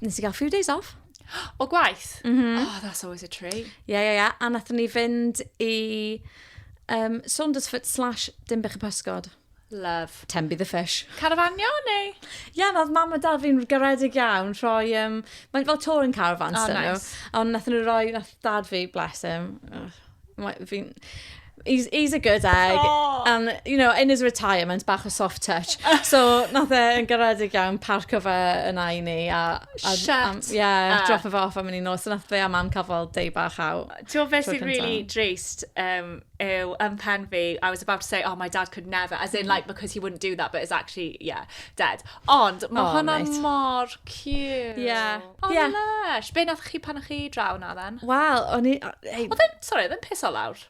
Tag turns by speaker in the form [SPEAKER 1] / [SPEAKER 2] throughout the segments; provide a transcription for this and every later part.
[SPEAKER 1] Nes i gael few days off. O gwaith? Mm -hmm. Oh, that's always a treat. Ie, ie, ie. A nath ni fynd i um, Saundersfoot slash Dimbych y Pysgod. Love. Tembi the fish. Carafanio neu? Ie, yeah, oedd mam a dad fi'n garedig iawn rhoi... Um, Mae'n fel touring caravans oh, nice. nhw. Ond nath nhw roi, nath dad fi, bless him, fi'n... He's, he's a good egg. Oh. And, you know, in his retirement, bach o soft touch. So, nath e yn garedig iawn parco fe yn i ni. A, a, Shut um, yeah, up. drop e off am yn un nos. So, nath fe a mam cael fel day bach out. Ti'n fe sy'n really drist um, yw yn pen fi, I was about to say, oh, my dad could never, as in, like, because he wouldn't do that, but it's actually, yeah, dead. Ond, mae oh, hwnna mor cute. Yeah. O, Ie. lush! Be nath chi pan o'ch chi draw na then? Wel, o'n i... o, ei, Oedd e'n, sorry, oedd e'n piso lawr?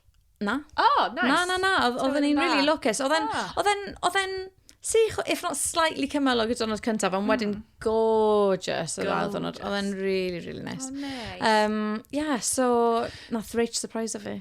[SPEAKER 1] Na. O, oh, nice. Na, na, na, oedd- oedden ni'n really lwcus. Oedden, Ah. oedden, oedden sych, if not slightly cymyl o gyda'r diwrnod cyntaf, ond wedyn Hmm. gorgeous oedd ail ddiwrnod. Gorgeous. Oedden really, really nice. O, neis. Um, yeah, so, nath Rach surprise fi.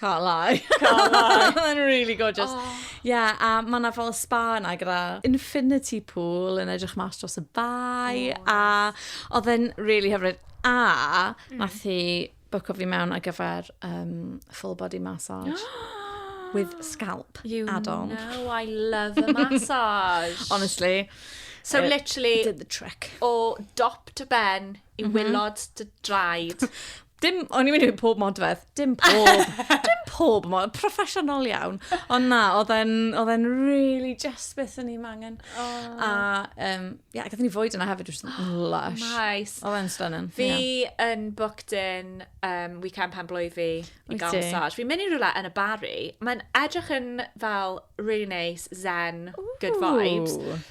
[SPEAKER 1] Can't lie. Can't lie. Mae'n really gorgeous. Ie, oh. yeah, a mae yna fel spa yna gyda infinity pool yn edrych mas dros y bai. Oh, a oedd e'n really hyfryd. A mm. nath hi bwco fi mewn ar gyfer um, full body massage. with scalp you add-on. You know I love a massage. Honestly. So uh, literally... Did the trick. O dop to ben i mm -hmm. wylod dy draed. Dim, o'n i'n mynd i fynd pob modfedd. Dim pob. dim pob modfedd. Proffesiynol iawn. Ond na, oedd e'n really just beth o'n i'n mangen. Oh. A, um, yeah, gath ni fwyd yna hefyd, which was lush. Nice. Oedd e'n stunning. Fi yeah. yn booked in um, weekend pen blwydd fi i gael massage. Fi'n mynd i rhywle yn y Barry. Mae'n edrych yn fel really nice, zen, Ooh. good vibes.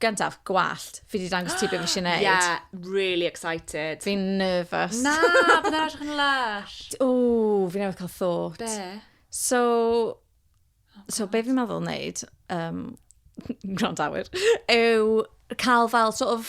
[SPEAKER 1] Gyntaf, gwallt. Fi wedi dangos ti beth fi eisiau neud. Yeah, really excited. Fi'n nervous. Na, bydd edrych yn lush. O, fi newydd cael thought. Be? So, oh, so be fi'n meddwl wneud, um, grandawyr, yw cael fel sort of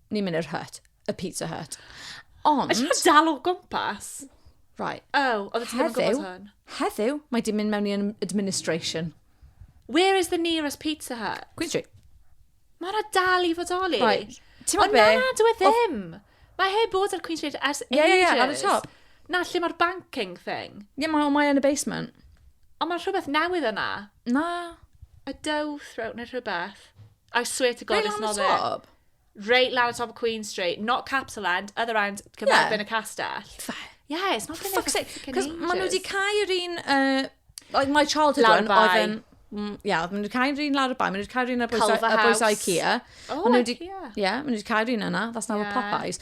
[SPEAKER 1] ni'n mynd i'r hut, y pizza hut. Ond... Ydych chi'n dal o gwmpas? Right. Oh, oedd ti'n gwybod gwmpas hwn? Heddiw, mae di mynd mewn i administration. Where is the nearest pizza hut? Queen Street. Mae hwnna dal i fodoli. Right. Ti'n meddwl be? Ond na, dwi e ddim. Mae heb bod ar Queen Street ers ages. Ie, ie, ie, ar y top. Na, lle mae'r banking thing. Ie, yeah, mae yn y basement. Ond mae rhywbeth newydd yna. Na. A dough throat neu rhywbeth. I swear to God, it's not there. Reit lawr top of Queen Street. Not Capital End, other end, cyfarfod yn y castell. Yeah, it's not been there for fuck's sake. Cos maen nhw wedi cael yr un... Uh, my childhood lawr one oedd yn... Mm, ia, yeah, maen nhw wedi cael yr un lawr y bai, maen nhw wedi cael yr un ar bwys IKEA. Oh, maen IKEA. Ie, yeah, maen nhw wedi cael yr un yna, that's now yeah. a Popeyes.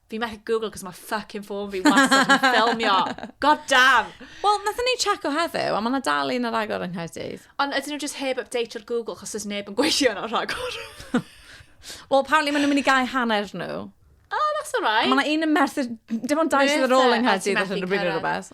[SPEAKER 1] Fi methu Google cos mae fucking ffôn fi wastad yn ffilmio. God damn! Wel, nath ni check o heddiw, a mae yna dal un ar agor yng Nghaerdydd. Ond ydyn nhw just heb update o'r Google chos oes neb yn gweithio yna rhagor? Wel, apparently maen nhw'n mynd i gael hanner nhw. Oh, that's alright. Mae yna un yn Merthyr... Dim ond dau sydd ar ôl yng Nghaerdydd allan o bryd rhywbeth.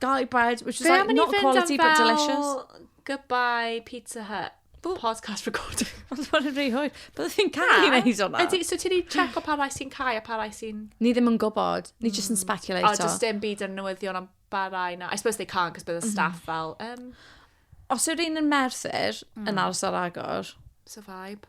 [SPEAKER 1] Garlic bread, which is Be like am i ni not fynd am quality but delicious. fel goodbye Pizza Hut podcast recording? Ond bod yn rhy hwyr. Byddai fi'n cael ei Na. wneud hwnna. Ydy, so ti wedi checo pa rai sy'n cau a pa rai sy'n... Ni ddim yn gwybod. Ni jyst yn O, speculato. does dim byd yn newyddion am ba rai na. I suppose they can't, cos bydd y staff fel, um, Os yw'r un yn Merthyr yn aros ar agor, so vibe.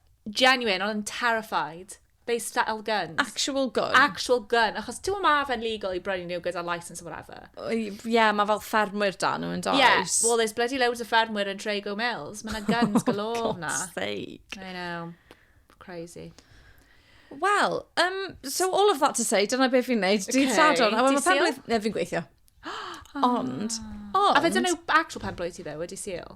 [SPEAKER 1] Genuine, o'n i'n terrified. They settled guns. Actual gun. Actual gun, achos ti'n gwybod mae fe'n legal i brynu nhw gyda licence or whatever. Ie, yeah, mae fel ffermwyr da nhw yn does. Ie, yeah, well there's bloody loads of ffermwyr yn Trago Mills. Mae yna guns galore na. Oh, sake. I know. Crazy. Wel, um, so all of that to say, dyna beth fi'n neud. Dydd okay. Sadwrn, a wedyn penblwydd... Ne, fi'n gweithio. Ond, ond... A fe dyn nhw actual penblwydd ti fe, wedi seal?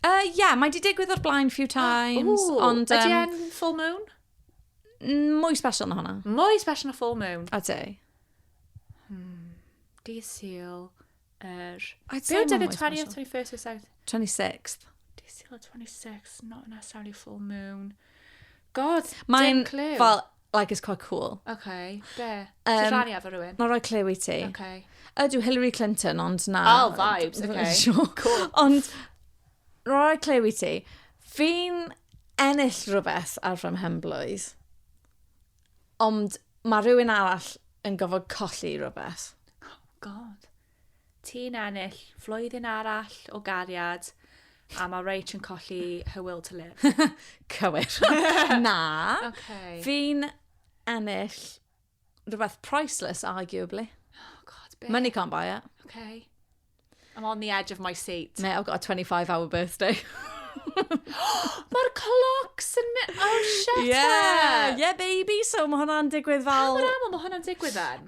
[SPEAKER 1] Uh, yeah, mae di digwydd o'r blaen few times, Ooh, ond... Um, ydy e'n full moon? Mwy special na hwnna. Mwy special na full moon? A ti? Hmm, di syl yr... Er... Be oedd y 20th, 21st, 27th? 26th. Di syl y 26th, not necessarily full moon. God, dim clue. Mae'n fel, like, it's quite cool. OK, be? Um, Ti'n rhannu efo rhywun? Mae'n rhoi clue i ti. OK. Ydw, Hillary Clinton, ond na. Oh, vibes, OK. Sure. Cool. Ond, rhoi clue i ti. Fi'n ennill rhywbeth ar fy mhenblwydd, ond mae rhywun arall yn gofod colli rhywbeth. Oh, God. Ti'n ennill flwyddyn arall o gariad a mae Rach yn colli her will to live. Cywir. Na. Okay. Fi'n ennill rhywbeth priceless, arguably. Oh, God, be? Money can't buy it. Okay. I'm on the edge of my seat. Mate, I've got a 25 hour birthday. Mae'r clocs yn mynd... Oh, shut yeah. up! Yeah, baby, so mae hwnna'n digwydd fel... Camer aml, mae hwnna'n digwydd then?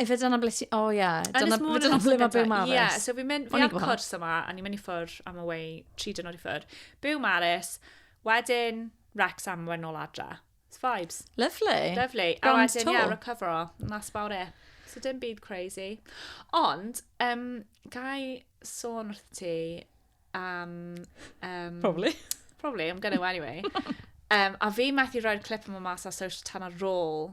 [SPEAKER 1] Efe dyna ble ti... O ia. Dyna ble mae byw Maris. Ie, so fi'n mynd... Fi ar cwrs yma, a ni'n mynd i ffwr am y wei tri dynod i ffwr. Byw Maris, wedyn Rex am wedyn ôl adra. It's vibes. Lovely. Lovely. A wedyn, yeah, recovero. That's about it. So dim byd crazy. Ond, um, gai sôn wrth ti am... Um, probably. Probably, I'm gonna anyway. um, a fi methu roi'r clip yma mas ar social tan ar ôl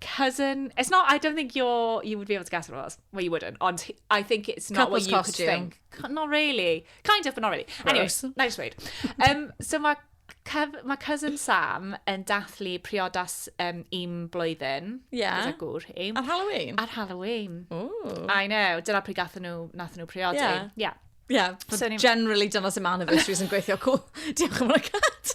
[SPEAKER 1] cousin. It's not, I don't think you're, you would be able to guess what it was. Well, you wouldn't, ond I think it's not Couples what you costume. could think. Co- Not really. Kind of, but not really. Anyway, Gross. na i sweud. Um, so mae cef- ma cousin Sam yn dathlu priodas um, un blwyddyn. Ie. Gyda gŵr hi. Ar Halloween? Ar Halloween. Ooh. I know. Dyna pryd gath nhw, nath nhw priodi. Ie. Yeah. yeah. Yeah, So but ni- generally dyna sy'n man of issues yn gweithio cool. Diolch yn fawr cat.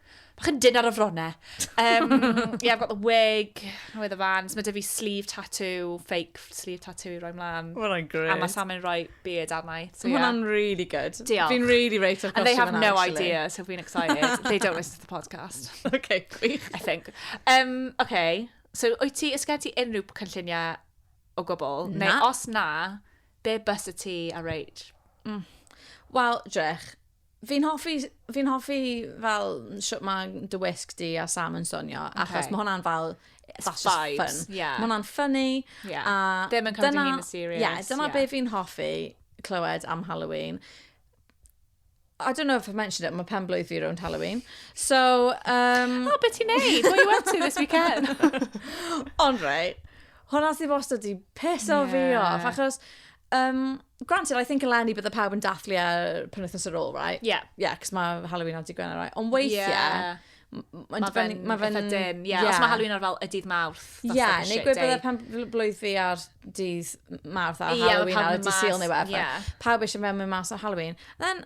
[SPEAKER 1] Bach yn dyn ar y frone. Um, yeah, I've got the wig, nwy the vans. Mae dy fi sleeve tattoo, fake sleeve tattoo i roi mlaen. Well, I'm great. A mae Sam yn rhoi beard arna i. So, yeah. Mae'n really good. Diolch. Fi'n really rate o'r And they have no actually. idea, so fi'n excited. they don't listen to the podcast. okay, gwych. I think. Um, okay, so wyt ti, ysgen ti unrhyw cynlluniau o gwbl? Na. Neu os na, be bys y ti a reid? Mm. Wel, drech, Fi'n hoffi, fi'n hoffi fel shwt mae dy wisg di a Sam yn swnio, okay. achos mae hwnna'n fel, that's just Vibes, fun. Yeah. Mae hwnna'n funny. Yeah. A Ddim yn cymryd yn serious. Yeah, dyna yeah. be fi'n hoffi clywed am Halloween. I don't know if I've mentioned it, mae pen blwydd fi rownd Halloween. So, um... oh, beth ti'n neud? What are you up to this weekend? Ond right, hwnna sy'n wastad di piso yeah. fi off, achos Um, granted, I think eleni bydde pawb yn dathlu ar e penwythnos ar ôl, right? Yeah. Yeah, cos mae Halloween ar digwyn ar right? Ond weithiau, yeah. Mae fe'n ma fe dim, ie. Yeah. Os mae Halloween ar fel y dydd mawrth. Ie, yeah, neu gwybod bydde pan blwydd fi ar dydd mawrth a yeah, Halloween ar y dydd syl neu wefr. Yeah. Pawb eisiau mewn mynd mas ar Halloween. Then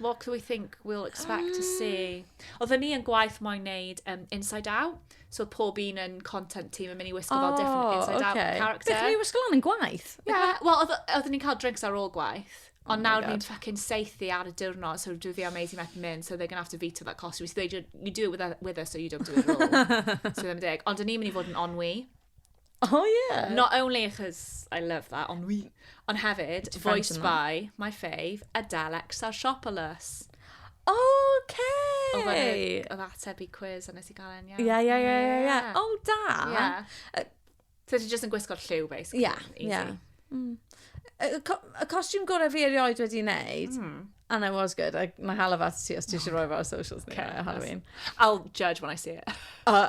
[SPEAKER 1] what do we think we'll expect to see? Oedden ni yn gwaith moyn neud um, Inside Out, so oedd pob un yn content team yn mynd i wisgo fel different Oh, Inside Out okay. character. Beth ni wisgo lan yn gwaith? Yeah, wel, oedd- oedden ni'n cael drinks ar ôl gwaith. Oh Ond my nawr God. ni'n fucking seithi ar y diwrnod, so dwi fi a Maisie methu mynd, so they're going to have to veto that costume. So they do, you do it with, with us, so you don't do it at all. so ddim yn deg. Ond o'n i'n mynd i fod yn onwy. Oh yeah! Not only achos I love that, ond wi... Ond hefyd, voiced by my fave, Adele Exarchopoulos. OK! Oedd e'n ateb i quiz a nes i gael e'n iawn. Ie, ie, ie, ie. O, da! Ie. So ti jyst yn gwisgo'r lliw, basically. Ie, ie. Mm. Y costiwm gorau fi erioed wedi wneud, mm. and I was good, I, na hala fat ti os ti eisiau rhoi fo ar socials ni, okay, Halloween. I'll judge when I see it. uh,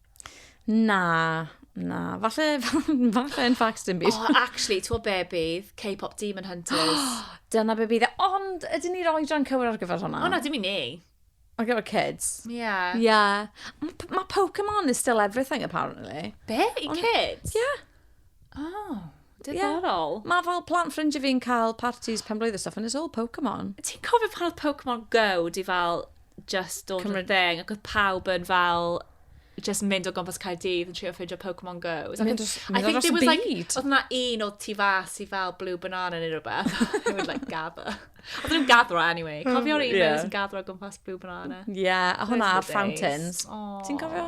[SPEAKER 1] Na, na. Falle, falle yn fact dim byd. Oh, actually, ti'n be bydd K-pop Demon Hunters? Dyna be bydd e. Ond, ydyn ni roi dran cywir ar gyfer hwnna? O na, dim i ni. Ar gyfer kids? Yeah. Yeah. Mae Pokemon is still everything, apparently. Be? I kids? Yeah. O, diddorol. Yeah. Mae fel plant ffrindiau fi'n cael parties pen blwydd stuff and it's all Pokemon. Ti'n cofio pan oedd Pokemon Go di fel just dod Cymru... yn thing ac oedd pawb yn fel just mynd o gwmpas Caerdydd yn trio ffeindio Pokemon Go. I think there was like, oedd yna un oedd ti fas i fel blue banana neu rhywbeth. They would like gather. Oedd nhw'n gathro anyway. Cofio'r un yeah. yn gathro gwmpas blue banana. Yeah, a hwnna ar fountains. Ti'n cofio?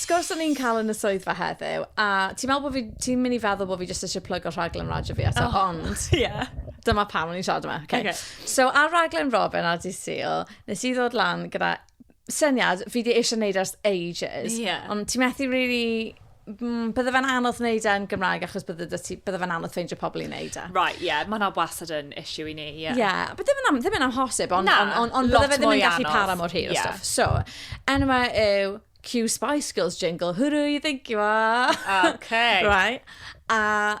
[SPEAKER 1] Sgwrs o'n i'n cael yn y swyddfa heddiw, a ti'n meddwl bod fi, ti'n mynd i feddwl bod fi jyst eisiau plygo rhaglen radio fi eto, oh. ond... Ie. Yeah. Dyma pam o'n i'n siarad yma. Okay. okay. So, ar raglen Robin ar Dydd Sul, nes i ddod lan gyda syniad fi di eisiau neud ers ages. Yeah. Ond ti methu really... Mm, bydde fe'n anodd wneud e'n Gymraeg achos bydde, ti, bydde fe'n anodd ffeindio pobl i wneud e. Right, ie, yeah, mae hwnna wastad yn issue i ni, ie. Yeah. yeah, but ddim yn, am, ddim yn amhosib, ond on, on, on, bydde fe ddim yn gallu para mor hir yeah. stuff. So, enw yw Q Spice Girls jingle, hwrw, you think you are. Okay. right. A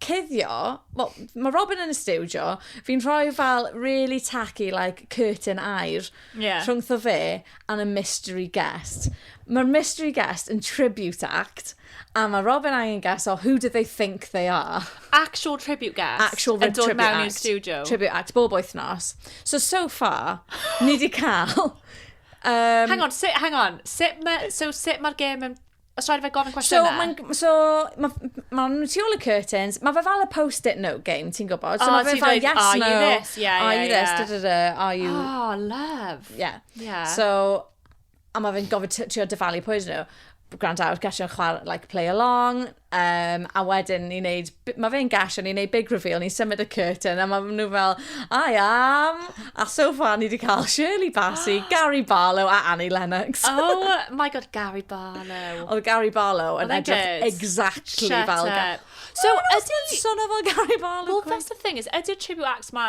[SPEAKER 1] cuddio, well, mae Robin yn y stiwdio, fi'n rhoi fel really tacky, like, curtain air yeah. rhwngtho fe and a mystery guest. Mae'r mystery guest yn tribute act, a mae Robin angen guess o who do they think they are. Actual tribute guest. Actual tribute act. Yn dod mewn i'r studio. Tribute act, bob wythnos. So, so far, ni di cael... Um, hang on, sit, hang on. Sit ma, so sut mae'r gêm yn Os rhaid fe gofyn cwestiynau. So, mae'n so, ma, ma tu ôl y curtains, mae fe fel y post-it note game, ti'n gwybod? So oh, mae fe fel, yes, are no, you this? Yeah, are yeah, you yeah. this? Da, da, da, are you... Oh, love. Yeah. yeah. So, a mae fe'n gofyn trio dyfalu pwy nhw. Grand out, gallu o'n chwarae, like, play along. Um, a wedyn ni'n neud mae fe'n gash, a ni'n neud big reveal, ni'n symud y curtain, a mae nhw fel, I am, a so far ni wedi cael Shirley Bassey, Gary Barlow a Annie Lennox. oh my god, Gary Barlow. Oedd Gary Barlow yn edrych exactly Shut fel... Up. So, ydy... Sona fel Gary Barlow. Well, that's the thing is, ydy'r tribute acts ma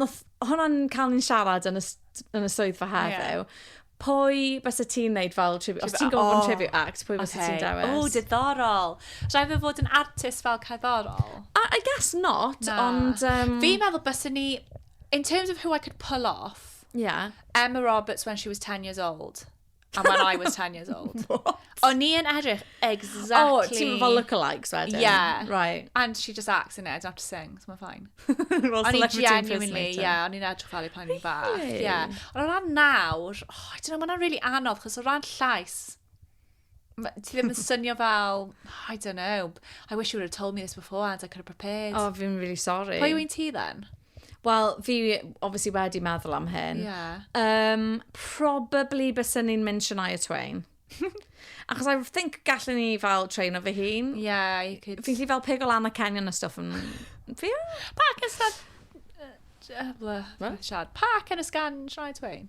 [SPEAKER 1] Nath hwnna'n cael ni'n siarad yn y, yn y swyddfa heddiw. Yeah. Pwy bys y ti'n neud fel tribute? Os ti'n gofyn oh, tribute act, pwy bys okay. ti'n dewis? O, oh, diddorol. Rhaid fe fod yn artist fel cerddorol? I, I guess not, Na. ond... Um... Fi'n meddwl bys ni... In terms of who I could pull off, yeah. Emma Roberts when she was 10 years old. And when I was 10 years old. O'n i yn edrych exactly... O, oh, ti'n fel lookalikes wedyn? Yeah. Right. And she just acts in it, I don't have to sing, so mae'n fine. well, o'n i genuinely, yeah, o'n i'n edrych fel i pan i'n fach. Really? Yeah. Ond o ran nawr, oh, I don't know, mae'n really anodd, chos o ran llais, ti ddim yn synio fel, I don't know, I wish you would have told me this before and I could have prepared. Oh, fi'n really sorry. Pwy yw'n ti then? Wel, fi obviously wedi meddwl am hyn. Yeah. Um, probably bysyn ni'n mynd Shania Twain. Achos I think gallen ni fel train o fy hun. Yeah, you could... Fi'n lli fel pig o lan a Kenyon a stuff yn... Fi? Park yn sgan... Siad. Park yn y sgan Shania Twain.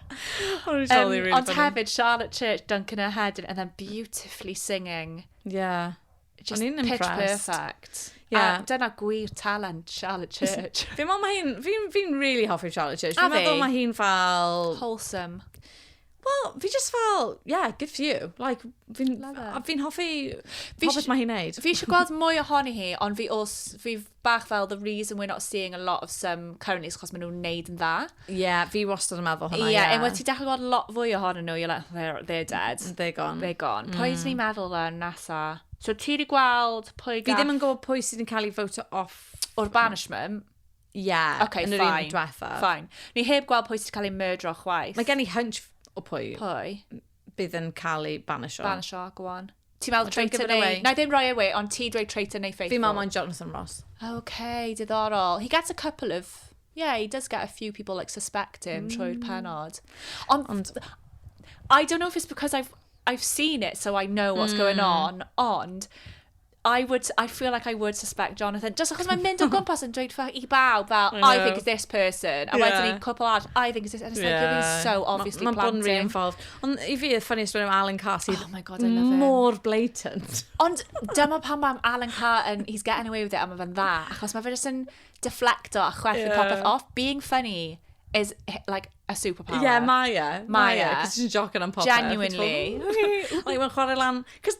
[SPEAKER 1] Ond hefyd, Charlotte Church, Duncan her head in, and then beautifully singing. Yeah. Just pitch impressed. perfect. Yeah. A dyna gwir talent Charlotte Church. Fi'n meddwl mae hi'n... Fi'n fi really hoffi Charlotte Church. Fi'n meddwl mae hi'n fel... Wholesome. Wel, fi just fel, yeah, good for you. Like, fi'n fi hoffi popeth mae hi'n neud. Fi eisiau gweld mwy ohoni hi, ond fi, os, fi bach fel the reason we're not seeing a lot of some currently is chos maen nhw'n neud yn dda. Ie, yeah, fi wastad yn meddwl hwnna, ie. Yeah, yeah. Unwaith ti'n dechrau gweld lot fwy ohonyn nhw, you're like, they're, they're dead. They're gone. They're gone. Mm. Pwy sy'n ni'n meddwl dda nesa? So ti wedi gweld pwy gath... Fi ddim yn gwybod pwy sydd yn cael ei ffoto off... O'r banishment? Ie, yeah, okay, yn yr un diwetha. Fine. Ni heb gweld pwy sydd wedi cael ei murdro chwaith. Mae gen i hunch o pwy. Pwy? Bydd yn cael ei banisho. Banisho, go on. Ti'n meddwl traitor neu... Wna i ddim rhoi e away, ond ti dweud traitor neu faithful? Fi'n meddwl mae'n Jonathan Ross. OK, diddorol. He gets a couple of... Yeah, he does get a few people like suspect him mm. trwy'r penod. Ond... Ond... I don't know if it's because I've, I've seen it, so I know what's mm. going on, ond... I would, I feel like I would suspect Jonathan. Just achos mae'n mynd o gwmpas yn dweud ffag i bawb fel, I, I think it's this person. A yeah. wedyn i'n cwpl arall, I think it's this. And it's yeah. like, you're so obviously ma, planting. Mae'n bod yn reinvolved. Ond i fi, y ffynu stori am Alan Carr sydd... Oh my god, I love him. ...mor blatant. Ond dyma pan mae Alan Carr yn, he's getting away with it, a mae fe'n dda. Achos mae fe jyst yn deflecto a chwerthu yeah. popeth off. Being funny is like a superpower. Ie, yeah, mae e. Mae e. Cos ti'n jocyn am popeth. Genuinely. Like, mae'n chwarae lan... Cos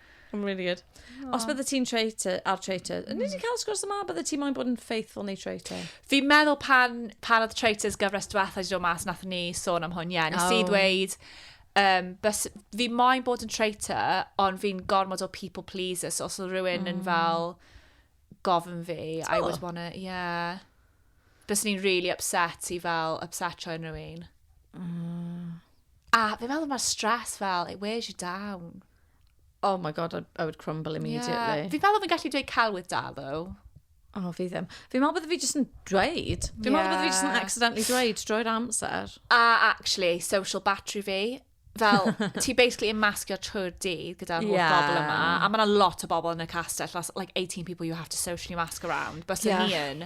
[SPEAKER 1] I'm really good. Aww. Os bydde ti'n traitor, ar traitor, mm. ni wedi cael sgwrs yma, bydde ti moyn bod yn faithful neu traitor? Fi'n meddwl pan, pan oedd traitors gyfres diwetha wedi dod mas, nath ni sôn am hwn, ie. Yeah. Nes oh. i ddweud, um, bys, fi moyn bod yn traitor, ond fi'n gormod o people pleaser, so os oedd rhywun mm. yn fel gofyn fi, oh. I would wanna, yeah. Bys ni'n really upset i fel upset rhywun rhywun. Mm. A fi'n meddwl mae'r stress fel, it wears you down. Oh my god, I, I would crumble immediately. Yeah. Fi fel oedd yn gallu dweud cael with da, though. Oh, fi ddim. Fi'n meddwl bod fi jyst yn dweud. Fi'n yeah. meddwl bod fi jyst yn accidentally dweud drwy'r amser. A actually, social battery fi. Fel, ti basically yn masgio trwy'r dydd gyda'r holl yeah. bobl yma. A mae yna lot o bobl yn y castell. That's like 18 people you have to socially mask around. Bys yeah. ni yn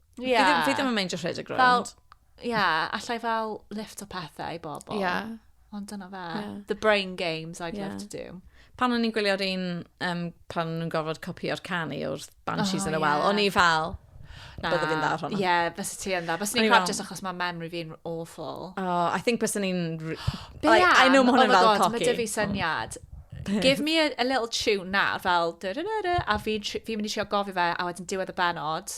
[SPEAKER 1] Ie. Fi ddim, fi ddim yn meindio rhedeg rownd. Fel, ie, allai fel lift o pethau i bobl. Ie. Yeah. Ond dyna fe. Yeah. The brain games I'd yeah. love to do. Pan o'n i'n gwylio'r un, um, pan o'n i'n gorfod copio'r canu o'r Banshees oh, yn y wel, yeah. o'n i fel, Na. Bydde fi'n dda ar hwnna. Ie, yeah, fysa ti yn dda. Fysa ni'n crap just achos mae memory fi'n awful. Oh, I think fysa ni'n... Like, I know mae hwnna'n oh fel cocky. Mae dy fi syniad. Give me a, a little tune na, fel... A fi'n fi mynd i trio gofio fe, a wedyn diwedd y benod,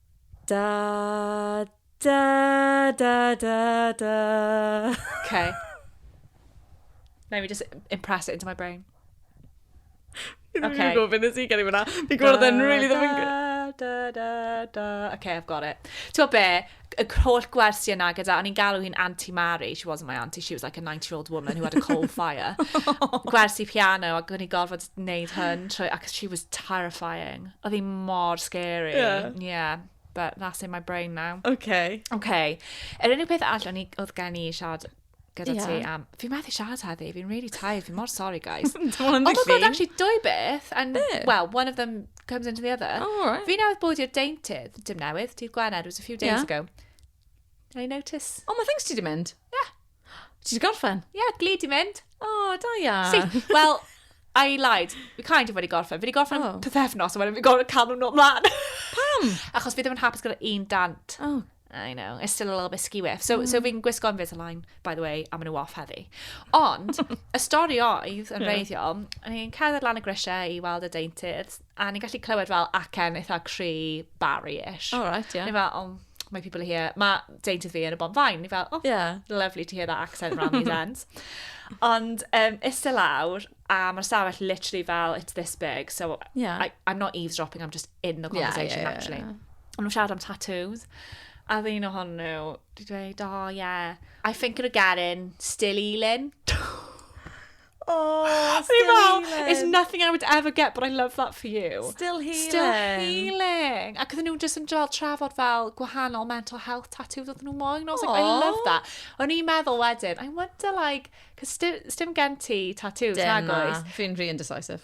[SPEAKER 1] Da, da, da, da, da. Okay. Let me just impress it into my brain. Fi'n okay. gwybod beth nes i gen i fyna. Fi'n gwybod yn really ddim yn gwybod. Da, da, da. Okay, I've got it. Ti'n be, y holl gwersi yna gyda, o'n i'n galw hi'n Auntie Mary, she wasn't my auntie, she was like a 90-year-old woman who had a coal fire. gwersi piano, ac o'n i'n gorfod wneud hyn, trwy, ac she was terrifying. Oedd hi mor scary. Yeah. Yeah. But that's in my brain now. Okay. Okay. Yr unig peth all o'n i, oedd gen i siarad gyda yeah. ti am... Fi'n methu siarad heddi, fi'n really tired, fi'n mor sorry, guys. oh my god, actually, dwy beth, and, Be? well, one of them comes into the other. Oh, all right. Fi newydd bod i'r deintydd, dim newydd, dydd Gwener, it was a few days yeah. ago. Did I notice? Oh, my things ti di mynd? Yeah. Ti wedi gorffen? Ie, yeah, glid i mynd. O, oh, da ia. Si, wel, I lied. We kind of wedi gorffen. Fi wedi gorffen oh. pethefnos, a wedyn fi gorffen cael nhw'n ymlaen. Pam? Achos fi ddim yn hapus gyda un dant. Oh, I know, it's still a little bit skew-iff. So, mm. so fi'n gwisgo Invisalign, by the way, a maen nhw off heddi. Ond, y stori oedd, yn reiddiol, o'n i'n cerdded lan y grisiau i weld y deintydd, a ni'n gallu clywed fel acen eitha cri Barry-ish. Oh, right, yeah. Ni fel, oh, my people are here. Mae deintydd fi yn y bonfain. Ni fel, oh, yeah. lovely to hear that accent around these ends. Ond um, iste lawr, a mae'r stafell literally fel, it's this big, so yeah. I, I'm not eavesdropping, I'm just in the conversation, yeah, yeah, actually. Yeah, yeah. Ond nhw'n siarad am tattoos. A ddyn o hon nhw, di dweud, oh, yeah, I think of a Garen, still healing. Oh, still healing. Fel, There's nothing I would ever get, but I love that for you. Still healing. Still healing. Ac oedden nhw'n just yn dod trafod fel gwahanol mental health tattoos oedden nhw moyn. I was like, I love that. O'n i'n meddwl wedyn, I wonder like, cos dim gen ti tattoos, nag oes? Fi'n rhi indecisive.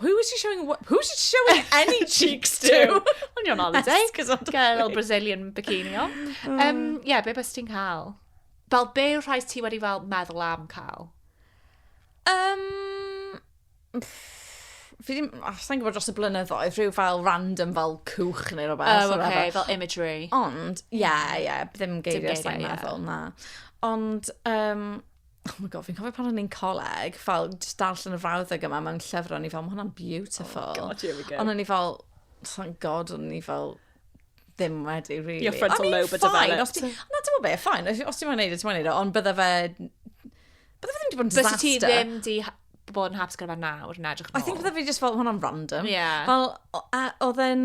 [SPEAKER 1] Who is she showing what? Who is she showing any cheeks to? Ond you're on holiday. Gael o'r Brazilian bikini on. Ie, um, yeah, be bys ti'n cael? Fel be yw'r rhai ti wedi fel meddwl am cael? Um, fi ddim, oh, sa'n gwybod dros y blynyddoedd, rhyw fel random fel cwch neu rhywbeth. Oh, oce, okay, fel imagery. Ond, ie, yeah, ie, yeah, ddim geiriau sa'n meddwl, na. Ond, um, oh my god, fi'n cofio pan o'n i'n coleg, fel just darllen y frawddeg yma mewn llyfr, o'n i fel, mae hwnna'n beautiful. Oh god, here we go. Ond o'n i fel, thank god, o'n i fel, ddim wedi, really. Your frontal lobe a developed. Na, dim o be, ffain, os ti'n mwyn neud o, ti'n mwyn neud o, ond bydde fe, bydde fe ddim wedi bod yn disaster. Fysi ti ddim di bod yn hapus gyda fe nawr yn edrych yn ôl. I think bydde fi just fel, hwnna'n random. Yeah. Fel, oedd e'n,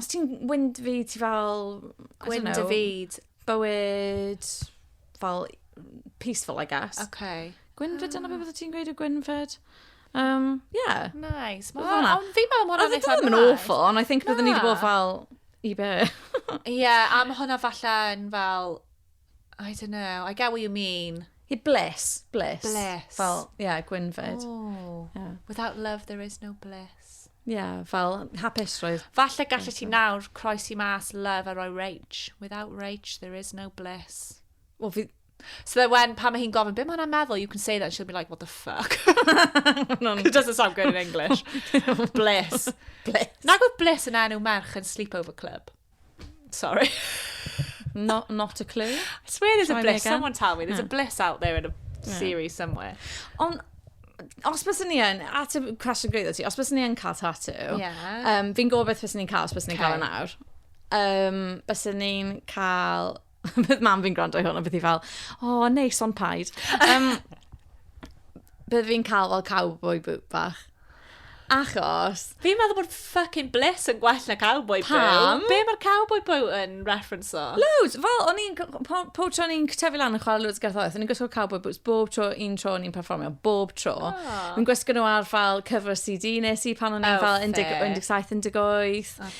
[SPEAKER 1] os ti'n wind fi, ti fel... Gwind y fyd. Bywyd, fel, peaceful, I guess. Okay. Gwynfyd, dyna beth bydde ti'n gweud y Gwynfyd? Um, yeah. Nice. Ond fi'n meddwl mor anodd. Oedd yn awful, ond I think byddwn ni wedi bod fel, i be? Ie, yeah, am hwnna falle yn fel I don't know, I get what you mean. He bliss, bliss. Bliss. Fel, ie, yeah, gwynfyd. Oh, yeah. Without love there is no bliss. Ie, yeah, fel hapusrwydd. Falle gallu ti nawr croesi mas love a roi rage. Without rage there is no bliss. Wel, fi... So that when pan mae hi'n gofyn, be mae'n meddwl, you can say that and she'll be like, what the fuck? It doesn't sound good in English. bliss. Bliss. Nag oedd bliss yn enw merch yn sleepover club? Sorry. not, not a clue. I swear there's Try a bliss. Someone tell me. There's yeah. a bliss out there in a yeah. series somewhere. Ond os bys ni yn, at y cwestiwn gwreiddo ti, os bys ni yn cael tatu, yeah. um, fi'n gofio beth bys ni'n cael os bys ni'n okay. cael yn awr. Um, bys ni'n cael bydd mam fi'n gwrando i hwn, a bydd hi fel, o, oh, neis, ond paid. Um, bydd fi'n cael fel cowboy boot bach. Achos... Fi'n meddwl bod fucking bliss yn gwell na cowboy boot. Pam? Be mae'r cowboy boot yn reference o? Loads! Fel, o'n i'n... Po, po tro o'n i'n tyfu lan yn chwarae loads gerthoedd, o'n i'n gwisgo cowboy boots bob tro un tro o'n i'n performio, bob tro. Oh. Ah. Yn gwisgo nhw ar fel cyfer CD nes i pan o'n i'n oh, fel 17, 18. Okay.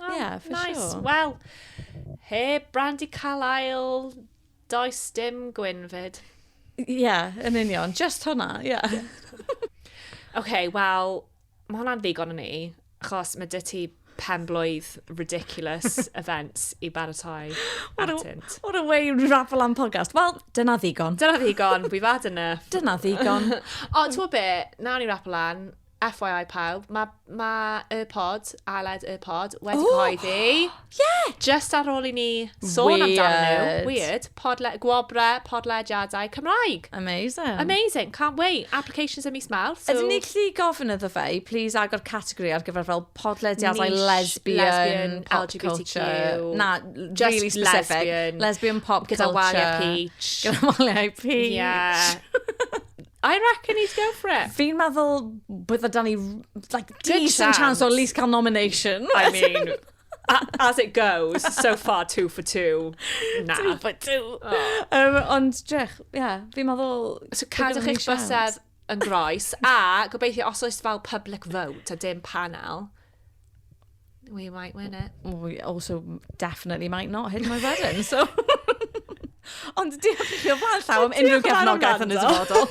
[SPEAKER 1] Oh, yeah, for nice. sure. Wel, heb Brandy Carlisle, does dim Gwynfyd. Ie, yeah, yn union. Just hwnna, ie. Yeah. OK, wel, mae hwnna'n ddigon yn ni, achos mae dy ti pen blwydd ridiculous events i baratoi atynt. What a way raffle am podcast. Wel, dyna ddigon. Dyna ddigon, we've had enough. Dyna ddigon. o, ti'n be, na ni raffle an, FYI pawb, mae ma y pod, Aled y pod, wedi oh! cyhoeddi. Yeah! Just ar ôl i ni sôn Weird. amdano nhw. Weird. Podle, gwobre, podlediadau Cymraeg. Amazing. Amazing. Can't wait. Applications ym mis Mawrth. So... Ydyn ni gallu gofyn iddo fe i please agor categori ar gyfer fel podlediadau Niche, lesbian, lesbian, pop LGBTQ. culture. Na, just really specific. Lesbian, lesbian pop gyda culture. Gyda waliau peach. Gyda waliau peach. Yeah. I reckon he'd go for it. Fi'n meddwl bydda dan ni, like, decent chance o at least cael nomination. I mean, as it goes, so far two for two. Na. Two for two. Oh. Um, ond, drech, ie, yeah, fi'n meddwl... So cadwch eich bysedd yn groes, a gobeithio os oes fel public vote a dim panel, We might win it. We also definitely might not hit my wedding, so... Ond diolch i chi o flaen llaw am unrhyw gefnogaeth yn y dyfodol.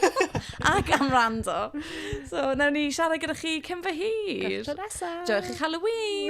[SPEAKER 1] Ac am rando. So, nawn ni siarad gyda chi cyn fy hir. Gyda nesaf. Diolch i'ch Halloween.